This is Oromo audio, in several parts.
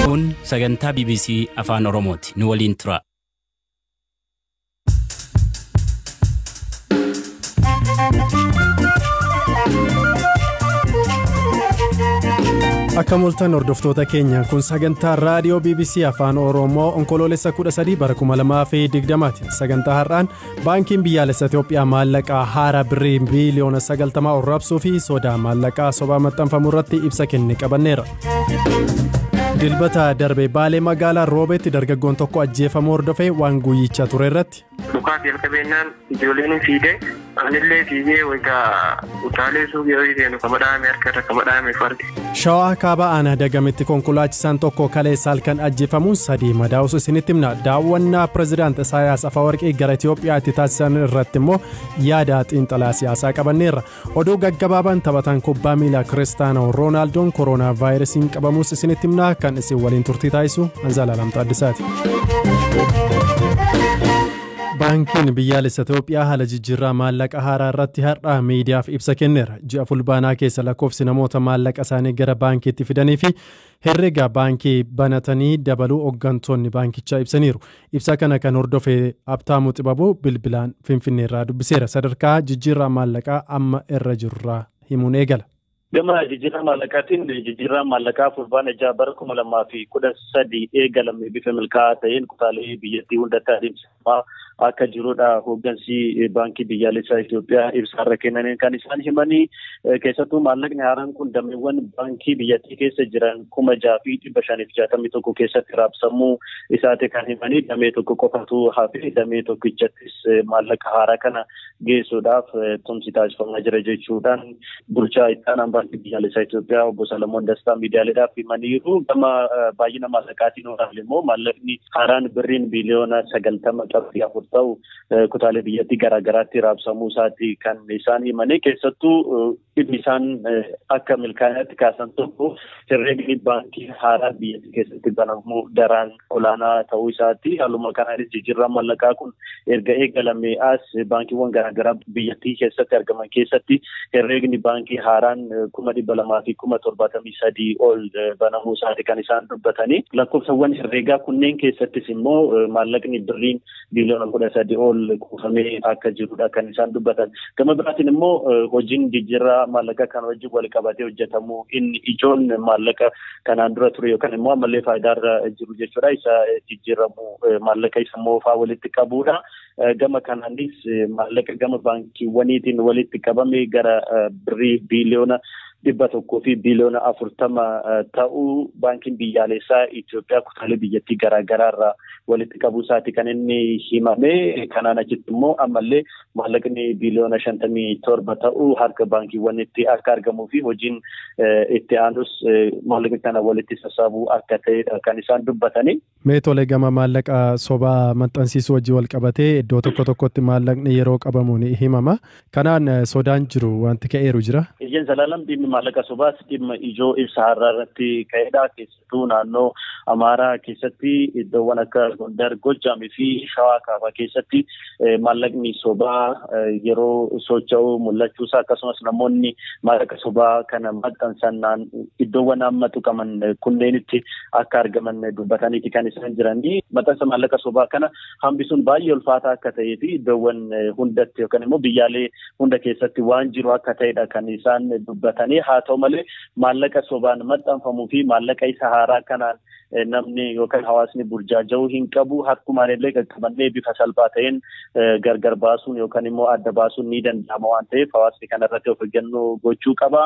Kun sagantaa BBC Afaan Oromooti. Nu waliin tura. Akka mul'atan hordoftoota keenya kun sagantaa raadiyoo BBC Afaan Oromoo onkoloolessa 13 bara 2020 ti. Sagantaa har'aan baankiin biyyaalessa Itoophiyaa maallaqaa haaraa birrii biiliyoona 90 ol raabsuu fi sodaa maallaqaa sobaa maxxanfamu irratti ibsa kenne qabanneera. Dilbata darbe baalee magaalaa roobeetti dargaggoon tokko ajjeefamuu hordofee waan guyyicha ture irratti. Dhukaasa jalqabeenyaan ijoolleen fiigde. Anillee fiigee wayita utaalee suuqii horii seenu kama dhaame harka irra kama dhaame fardi. Shawaa kaabaa aanaa dagamitti konkolaachisaan tokko kaleessa halkan ajjeefamuun sadii madaa'us isinitti himna. Daawwannaa pirezidaant Isaayaas Afawarqii gara Itoophiyaatti taasisan irratti immoo yaada xiinxalaa siyaasaa qabanneerra. Oduu gaggabaabaan taphataan kubbaa miilaa Kiristaanoo Roonaaldoon koroonaa vaayirasiin qabamuus isinitti himna kan isin waliin turtii taasisu Anzaalaalam Taaddisaati. Baankiin biyyaalessa Itoophiyaa haala jijjiirraa maallaqa haaraa irratti har'a miidiyaaf ibsa kenneera. Ji'a fulbaanaa keessa lakkoofsi namoota maallaqa isaanii gara baankiitti fidanii fi herrega baankii banatanii dabaluu hooggantoonni baankichaa ibsaniiru. Ibsa kana kan hordofe Abtaamuu Xibabuu bilbilaan Finfinneerraa dubbiseera. Sadarkaa jijjiirraa maallaqaa amma irra jirurraa himuun eegala. Gama jijjiirraa maallaqaatiin jijjiirraan maallaqaa fulbaana jaha bara kuma lamaa fi kudha sadii eegalame bifa milkaa'aa ta'een kutaalee biyyattii hundatti adeemsifamaa akka jirudha hooggansi baankii biyyaalessaa Itoophiyaa ibsaarra kennaniin kan isaan himanii keessattuu maallaqni haaraan kun dameewwan baankii biyyattii keessa jiran kuma jaha fi dhibba shaniif jaatamii tokko keessatti raabsamuu isaati kan himanii damee tokko qofatu hafee damee tokkichattis maallaqa haaraa kana geessuudhaaf tumsi taasifamaa jira jechuudhaan bulchaa itti aanaan baankii biyyaalessaa Itoophiyaa obbo Salamoon Dastaa miidiyaaleedhaaf himaniiru. Gama baay'ina maallaqaatiin olaanaa immoo maallaqni haaraan birriin biiliyoona sagaltama qabxii afur ta'u kutaalee biyyattii garaagaraatti raabsamuu isaati kan isaan himanii keessattuu Dhimmi isaan akka milkaa'inaatti kaasan tokko herreegni baankii haaraa biyyattii keessatti banamu daraan olaanaa ta'uu isaati. Haaluma kanaanis jijjiirraa mallaqaa kun erga eegalamee as baankiiwwan garaagaraa biyyattii keessatti argaman keessatti herreegni baankii haaraan kuma dhibba lamaa fi kuma torbaatamii sadii ol banamuu isaati kan isaan dubbatanii. Lakkoofsawwan herreegaa kunneen keessattis immoo maallaqni birriin biiliyoona kudha sadi ol kuufamee akka jirudha kan isaan dubbatan. Gama biraatiin immoo hojiin jijjiirraa maallaqa kan wajjin wal qabatee hojjetamu inni ijoon maallaqa kanaan dura ture yookaan immoo ammallee faayidaarra jiru jechuudha. Isa jijjiiramu maallaqa isa moofaa walitti qabuudha. Gama kanaanis maallaqa gama baankiiwwaniitiin walitti qabame gara birrii biiliyoona dhibba tokkoo fi biliyoona afurtama ta'uu baankiin biyyaaleessaa Itoophiyaa kutaalee biyyattii garaagaraa irraa walitti qabuu isaati kan inni himame. Kanaan achitti immoo ammallee maallaqni biliyoona shantamii torba ta'uu harka baankiiwwanitti akka argamuu fi hojiin itti aanus maallaqni kana walitti sassaabuu akka ta'edha kan isaan dubbatanii. Mee tole gama maallaqa sobaa maxxansiisuu wajjin wal qabatee iddoo tokko tokkotti maallaqni yeroo qabamu ni himama. Kanaan sodaan jiru wanti ka'eeru jira. Eeyyeen Zalaalam dhimmi maallaqa sobaas dhimma ijoo ibsa har'aa irratti ka'edha. Keessattuu naannoo Amaaraa keessatti iddoowwan akka Gondar, Goojjaamii fi Shawaa Kaabaa keessatti maallaqni sobaa yeroo socho'u mul'achuusaa akkasumas namoonni maallaqa sobaa kana maxxansannaan iddoowwan amma tuqaman kunneenitti akka argaman dubbataniiti kan isaan jiranii maxxansa maallaqa sobaa kana hambisuun baay'ee ulfaataa akka ta'ee fi iddoowwan hundatti yookaan immoo biyyaalee hunda keessatti waan jiru akka ta'edha kan isaan dubbatanii haa ta'u malee maallaqa sobaan maxxanfamuu fi maallaqa isa haaraa kanaan namni yookaan hawaasni burjaaja'uu hin qabu harkumaan illee qaqqabannee bifa salphaa ta'een gargar baasuun yookaan immoo adda baasuun ni danda'ama waan ta'eef hawaasni kana irratti of eeggannoo gochuu qaba.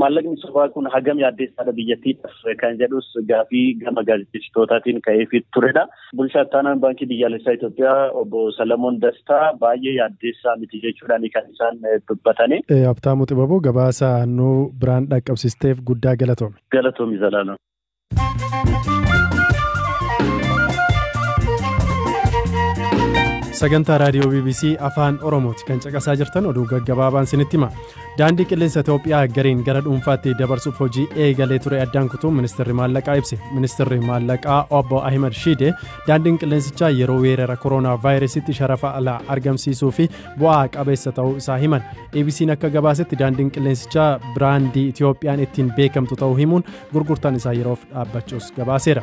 Maallaqni sobaa kun hagam yaaddeessaadha biyyattiidhaaf kan jedhus gaafii gama gaazexeessitootaatiin ka'eefi turedha. Bulchaa ittaanaan baankii biyyaalessaa Itoophiyaa obbo Salamoon Dastaa baay'ee yaaddeessaa miti jechuudhaan kan isaan dubbatani. Habtaamuu Xibaboo gabaasa nuu biraan dhaqqabsisteef guddaa galatoomi. Galatoomi Zalaalam. sagantaa raadiyoo bbc afaan oromooti kan caqasaa jirtan oduu gaggabaabaan sinitti hima daandii qilleensa itoophiyaa gariin gara dhuunfaatti dabarsuuf hojii eegalee ture addaan kutuu ministeerri maallaqaa ibse ministeerri maallaqaa obbo ahimad shiide daandiin qilleensichaa yeroo weerara kooroonaa vaayirasitti sharafa alaa argamsiisuu fi bu'aa qabeessa ta'uu isaa himan abc'n akka gabaasetti daandiin qilleensichaa biraandii itoophiyaan ittiin beekamtu ta'uu himuun gurgurtaan isaa yeroof dhaabbachuus gabaaseera.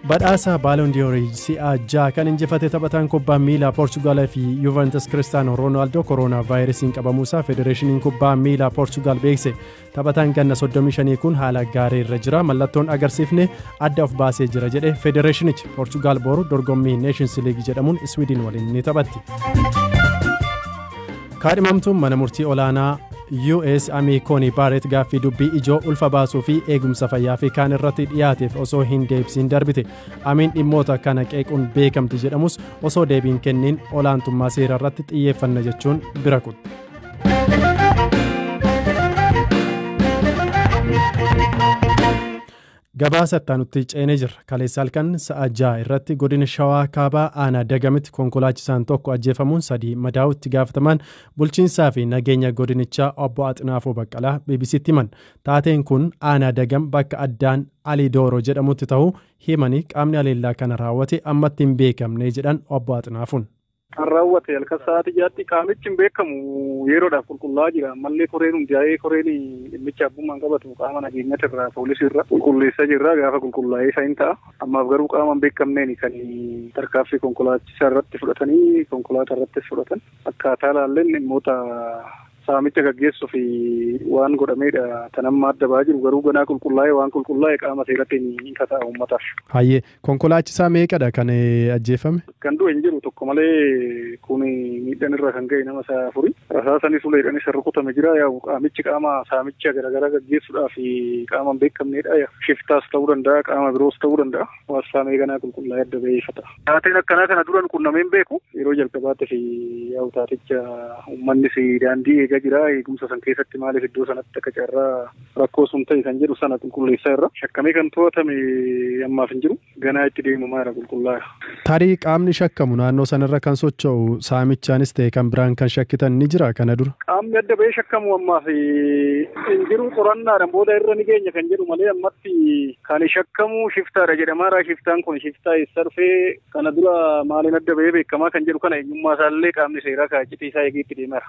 Badhaasa Baalondiyoorii si'a ja'a kan injifate taphataan kubbaa miilaa Poorchugaal fi Yuventus Kiristaanoo Roonaaldoo koroonaa vaayirasiin qabamuusaa Federeeshiniin Kubbaa Miilaa Poorchugaal beekse. Taphataan ganna 35 kun haala gaarii irra jira. Mallattoon agarsiifne adda of baasee jira jedhe Federeeshinichi. Poorchugaal boru dorgommii Neeshins Liigii jedhamuun Iswiidin waliin ni taphatti. Kaadhimamtuun mana murtii olaanaa US Amii Koonii Baaret gaaffii dubbii ijoo ulfa baasuu fi eegumsa fayyaa fi kaan irratti dhiyaateef osoo hin deebisiin darbite. Amiin dhimmoota kana qeequun beekamti jedhamus osoo deebiin kenniin olaantummaa seera irratti xiyyeeffanna jechuun bira kutte. Gabaasa ittaanutti ceenee jirra. Kaleessa halkan sa'a ja'a irratti godina Shawaa Kaabaa aanaa Dagamitti konkolaachisaan tokko ajjeefamuun sadii madaa'uu itti gaafatamaan bulchiinsaa fi nageenya godinichaa obbo Axinaafuu Baqqalaa BBCtti himan. Taateen kun aanaa Dagam bakka addaan Alii Dooroo jedhamutti ta'uu himanii qaamni haleellaa kana raawwate ammatti hin beekamne jedhan obbo Axinaafuun. kan raawwate halkan sa'aatii jaatti qaamichi hin beekamu yeroodhaaf qulqullaa'aa jira ammallee koreen hundaa'ee koreen dhimmicha abbummaan qabatu qaama nageenyatti irraa poolisii irra qulqulleessaa jirra gaafa qulqullaa'ee isaa hin ta'a ammaaf garuu qaama hin beekamneen kan tarkaaffii konkolaachisaa irratti fudhatanii konkolaataa irrattis fudhatan akkaataa laalleen dhimmoota saamicha gaggeessuuf waan godhameedha tan amma adda ba'aa jiru garuu ganaa qulqullaa'ee waan qulqullaa'e qaama seeratti hin kata'a uummataaf. Hayyee Konkolaachisaa meeqadha kan ajjeefame? Kan du'e hin jiru tokko malee kun miidhaan irra kan ga'e nama isa afuri. Rasaasanis uleedhaan isa rukutame jira. Yaa'u qaamichi qaama saamicha garaagaraa gaggeessuudhaaf qaama hin beekamneedha. Shiftaas ta'uu danda'a, qaama biroos ta'uu danda'a. Waan saamee ganaa qulqullaa'ee adda ba'ee ifa ta'a. Taateen akkanaa kana duran qunnamee hin beeku. Yeroo jalqabaatiif yaa'u taaticha uummannis daandii eegaa jira. Eegumsa san keessatti maaliif iddoo sanatti akka carraa Rakkoo sun ta'e kan jedhu sana qulqulleessaa irra. Shakkamee kan to'atame ammaaf hin jiru. Ganaa itti deemamaa irra qulqullaa'a. Tarii qaamni shakkamu naannoo sanarra kan socho'u saamichaanis ta'e kan biraan kan shakkitan ni jira kana dura? Qaamni adda ba'ee shakkamu ammaaf hin jiru. Qorannaadhaan booda irra ni geenya kan jedhu malee ammatti kan shakkamu shiftaadha jedhamaara. Shiftaan kun shiftaa eessaa dhufee kana dura maaliin adda ba'ee beekamaa kan jedhu kana eenyummaa isaallee qaamni seeraa kaa iccitii isaa eegee itti deemaara.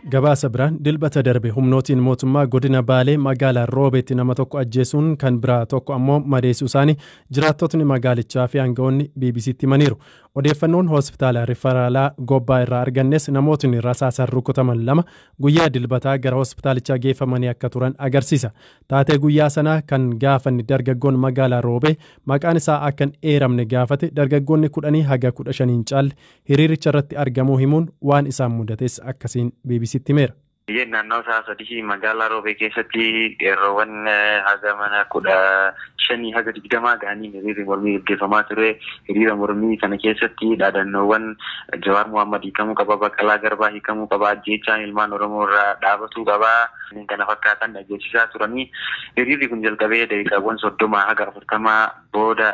Gabaasa biraan dilbata darbe humnootiin mootummaa godina Baalee magaalaa Roobeetti nama tokko ajjeesuun kan biraa tokko ammoo madeessuu isaanii jiraattotni magaalichaa fi aangawoonni BBC'tti himaniiru. Odeeffannoon hospitaala rifaraalaa Gobbaa irraa argannes namootni rasaasaan rukutaman lama guyyaa dilbataa gara hospitaalichaa geeffamanii akka turan agarsiisa. Taatee guyyaa sanaa kan gaafanne dargaggoon magaalaa Roobee maqaan isaa akka hin eeramne gaafate dargaggoonni kudhanii haga kudha shanii hin caalle hiriiricha irratti argamuu himuun waan isaan mudates akkasiin BBCtti himeera. Biyyeen naannoo sa'a sadihii magaalaa Roobee keessatti qeerroowwan haga mana kudha shanii haga digdamaa ga'anii hiriirri mormii gaggeeffamaa ture. Hiriira mormii kana keessatti dhaadannoowwan Jawaar Mohaammed hiikamuu qaba, Baqqalaa Garbaa hiikamuu qaba, ajjeechaan ilmaan Oromoo irraa dhaabatuu qaba. kana fakkaatan dhageessisaa turanii hiriirri kun jalqabee daqiiqaawwan soddoma haga afurtamaa booda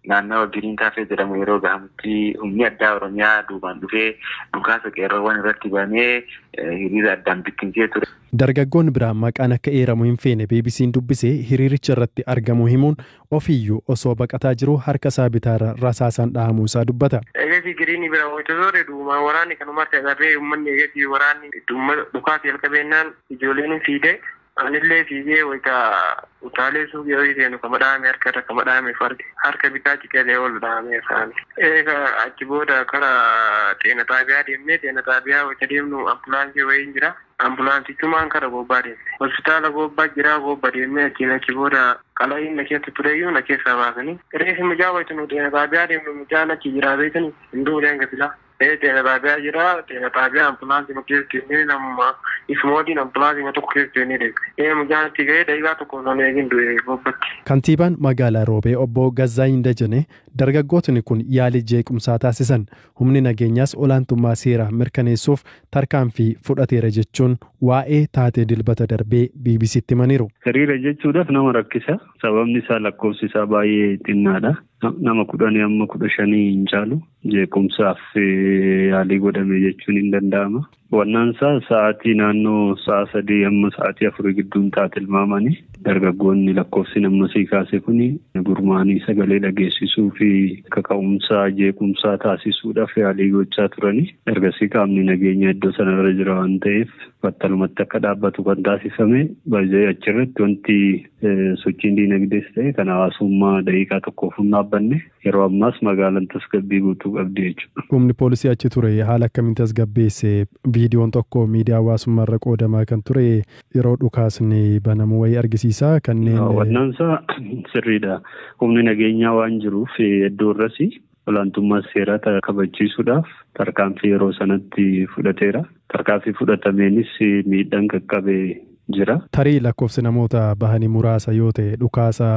naannawa Giriin Kaafee jedhamu yeroo gahamutti humni addaa Oromiyaa duubaan dhufee dhukaasa qeerroowwan irratti banee hiriira addaan bittimsee ture. Dargaggoon biraa maqaan akka eeramu hin feene BBC'n dubbise hiriiricha irratti argamuu himuun Ofiiyyuu osoo baqataa jiruu harka isaa bitaarra rasaasaan dhahamuu isaa dubbata. Eegasii Giriinii bira wayita zoore du'umaa waraanni kan umarti agarree ummanni eegasii waraanni itti ummata dhukaasa jalqabeennaan ijooleeni fiide anillee fiigee wayita utaalee suuqii wayii seenu kama dhahame harka irra kama dhahameef arge. Harka bitaa citeelee oolu dhahameera ani. Eega achi booda kara xeena xaabiyaa deemne. Xeena xaabiyaa wayita deemnu ambulaansii wayiin jira. Ambulaansichumaan kara Goobbaa deemne. Hospitaala Goobba jiraa Goobba deemnee achiin achi booda qala'iin na keessa tureyyuu na keessaa baasanii. Reefi mucaa wayita nu Xeena Xaabiyaa deemnu mucaan achi jiraa beeytanii? Hin duune hanga silaa. Ee Xeena Xaabiyaa jira. Xeena Xaabiyaa ambulaansiima keessa deemnee namuma isuma waliin ambulaansiima tokko keessa deemnee deemne. Ee mucaan achi gahee daqiiqaa tokko osoo hin eegin du'e Goobbatti. Kantiibaan Magaalaa Roobee Obbo Gazzaany Dajanee dargaggootni kun yaalii jeequmsaa taasisan Humni nageenyaas olaantummaa seeraa mirkaneessuuf tarkaanfii fudhateera jechuun waa'ee taatee Dilbata darbee BBC'tti himaniiru. Hiriira jechuudhaaf nama rakkisa. Sababni isaa lakkoofsi isaa baay'ee xinnaadha. Nama kudhanii amma kudha shanii hin caalu. Jeequmsaaf yaalii godhame jechuun hin danda'ama. Wannansaa sa'aatii naannoo sa'a sadii amma sa'aatii afurii gidduun ta'a tilmaamani. Dargaggoonni lakkoofsiin amma sii kaase kuni gurmaa'anii sagalee dhageessisuu fi kaka'umsa jeequmsaa taasisuudhaaf yaalii gochaa turani. Ergasii qaamni nageenyaa iddoo sanarra jira waan ta'eef battalumatti akka dhaabbatu kan taasifame. By the way achirratti wanti sochiin diinagdees ta'e kan hawaasummaa daqiiqaa tokkoof hin dhaabbanne. Yeroo ammaas magaalan tasgabbii guutuu qabdi jechuudha. Humni poolisii achi ture haala akkamiin tasgabbeesse? Viidiyoon tokko miidiyaa hawaasummaa irra qoodamaa kan ture yeroo dhukaasni banamu wayii argisiisa. Kanneen Daawwannaansaa sirriidha. Humni nageenyaa waan jiruuf iddoo irras olaantummaa seeraa ta- kabachiisuudhaaf tarkaanfii yeroo sanatti fudhateera. Tarkaanfii fudhatameenis miidhaan qaqqabe jira. Tarii lakkoofsi namoota bahanii muraasa yoo ta'e dhukaasa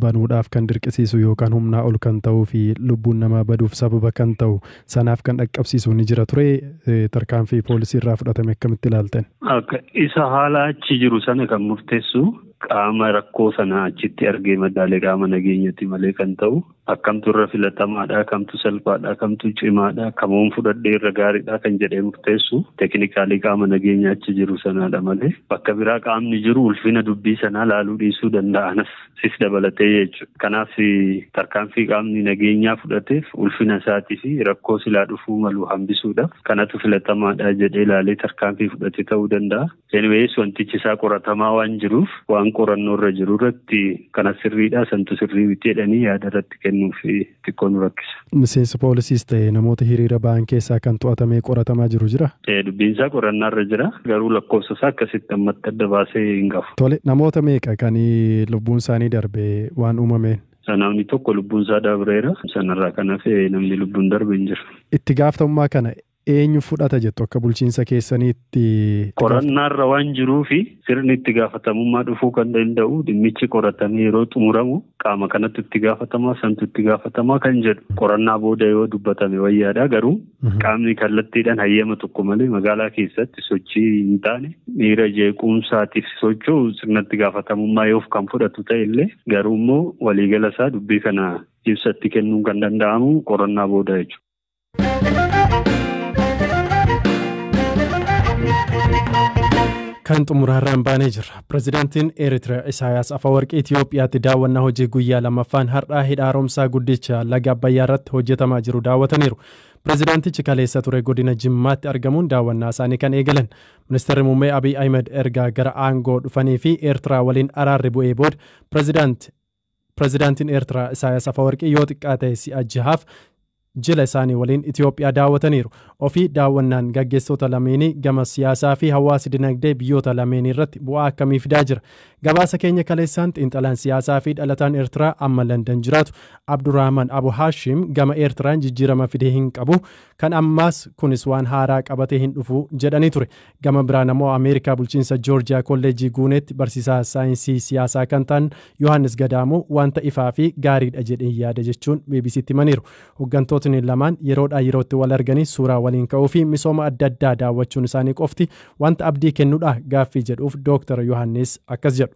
banuudhaaf kan dirqisiisu yookaan humnaa ol kan ta'uu fi lubbuun namaa baduuf sababa kan ta'u sanaaf kan dhaqqabsiisu ni jira ture tarkaanfii poolisii irraa fudhatame akkamitti ilaaltan? Akka isa haala achi jiru sana kan murteessu qaama rakkoo sana achitti argee madaale qaama nageenyatti malee kan ta'u Akkamtu irra filatamaadha, kamtu salphaadha, kamtu cimaadha, kamuun fudhadhee irra gaariidha kan jedhee murteessu tekinikaalii qaama nageenya achi jiru sanaadha malee bakka biraa qaamni jiru ulfina dubbii sanaa laaluu dhiisuu danda'a anas sis dabalatee jechuudha. Kanaaf tarkaanfii qaamni nageenyaa fudhateef ulfina isaatii fi rakkoo silaa dhufuu malu hambisuudhaaf kanatu filatamaadha jedhee laalee tarkaanfii fudhate ta'uu danda'a. Anyways wantichi isaa qoratamaa waan jiruuf waan qorannoo irra jiru irratti kana sirriidha santu sirrii miti jedhanii yaada irratti kennuuf xiqqoo nu rakkisa. Miseensa poolisiis ta'e namoota hiriira ba'an keessaa kan to'atamee qoratamaa jiru jira? Eh, Dubbiin isaa qorannaa irra jira garuu lakkoofsa isaa akkasitti ammatti adda baasee hin qabu. Tole namoota meeqa kan lubbuun isaanii darbe waan uumameen? Namni tokko lubbuun isaa dabreera sanarraa kan hafe namni lubbuun darbe hin jiru. Itti gaafatamummaa kana eenyu fudhata jettu akka bulchiinsa keessaniitti? Qorannaarra waan jiruufi sirni itti gaafatamummaa dhufuu kan danda'u dhimmichi qoratamee yeroo xumuramu qaama kanatu itti gaafatamaa santu itti gaafatamaa kan jedhu qorannaa booda yoo dubbatame wayyaadha garuu qaamni kallattiidhaan hayyama tokko malee magaalaa keessatti sochii hin taane miira jeequmsaatiif socho'u sirna itti gaafatamummaa yoof kan fudhatu ta'e illee garuu immoo waliigala isaa dubbii kana ibsatti kennuun kan danda'amu qorannaa booda jechuudha. Kan xumuraarraan baanee jirra. Pireezidaantiin Eeritiriyaa Isaayaas Afawarqii Itoophiyaatti daawwannaa hojii guyyaa lammaffaan har'aa hidha haaromsaa guddicha laga Abbayyaa irratti hojjetamaa jiru daawwataniiru. Pireezidaantichi kaleessa ture godina Jimmaatti argamuun daawwannaa isaanii kan eegalan. Ministeerri Muummee Abiy Ahimad ergaa gara aangoo dhufanii fi Eertiraa waliin araarri bu'ee booda pireezidaanti Pirezidaantiin Eertiraa Isaayas Afawarqii yoo xiqqaate si'a jahaaf jila isaanii waliin Itoophiyaa daawwataniiru. Ofii daawwannaan gaggeessitoota lameenii gama siyaasaa fi hawaasa dinagdee biyyoota lameenii irratti bu'aa akkamii fidaa jira? Gabaasa keenya kaleessaan xiinxalaan siyaasaa fi dhalataan Eertiraa amma Landan jiraatu Abdurrahman Abu Haashim gama Eertiraan jijjiirama fidee hin qabu kan ammaas kunis waan haaraa qabatee hin dhufu jedhanii ture. Gama biraan ammoo Ameerikaa bulchiinsa Joorjiyaa kolleejjii Guuneetti barsiisaa saayinsii siyaasaa kan ta'an Yohaannis Gadaamuu wanta ifaa fi gaariidha jedheen yaada jechuun BBCtti himaniiru. Hoggantootni lamaan yeroodhaa yerootti wal arganii suuraa waliin ka'uu fi misooma adda addaa daawwachuun isaanii qofti wanta abdii kennudha gaaffii jedhuuf Dooktar Yohaannis akkas jedhu.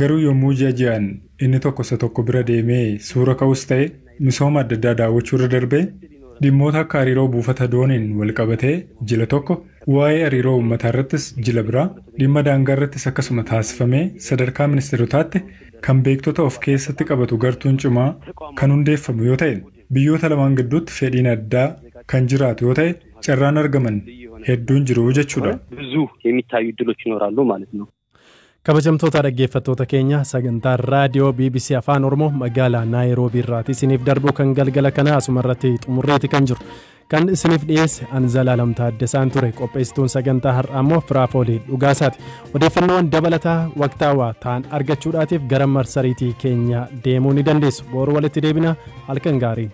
Garuu yommuu ji'a ji'aan inni tokko isa tokko bira deemee suura ka'us ta'e misooma adda addaa daawwachuu irra darbee dhimmoota akka hariiroo buufata dooniin walqabatee jila tokko, waa'ee hariiroo uummataa irrattis jila biraa, dhimma daangaa irrattis akkasuma taasifamee sadarkaa ministeerotaatti kan beektota of keessatti qabatu gartuun cimaa kan hundeeffamu yoo ta'e biyyoota lamaan gidduutti fedhiin addaa kan jiraatu yoo ta'e carraan argaman hedduun jiru jechuudha. Kabajamtoota dhaggeeffattoota keenya sagantaa raadiyoo BBC Afaan Oromoo magaalaa Naayiroobii irraati isiniif darbu kan galgala kanaa asuma irratti xumurreeti kan jiru. Kan isiniif dhiyeesse an Zalaalam Taaddasaan ture qopheessituun sagantaa har'aa immoo Firaafoolii Dhugaasaati. Odeeffannoowwan dabalataa waqtaawaa ta'an argachuudhaatiif gara marsariitii keenya deemuu ni dandeessu. Boru walitti deebina halkan gaarii.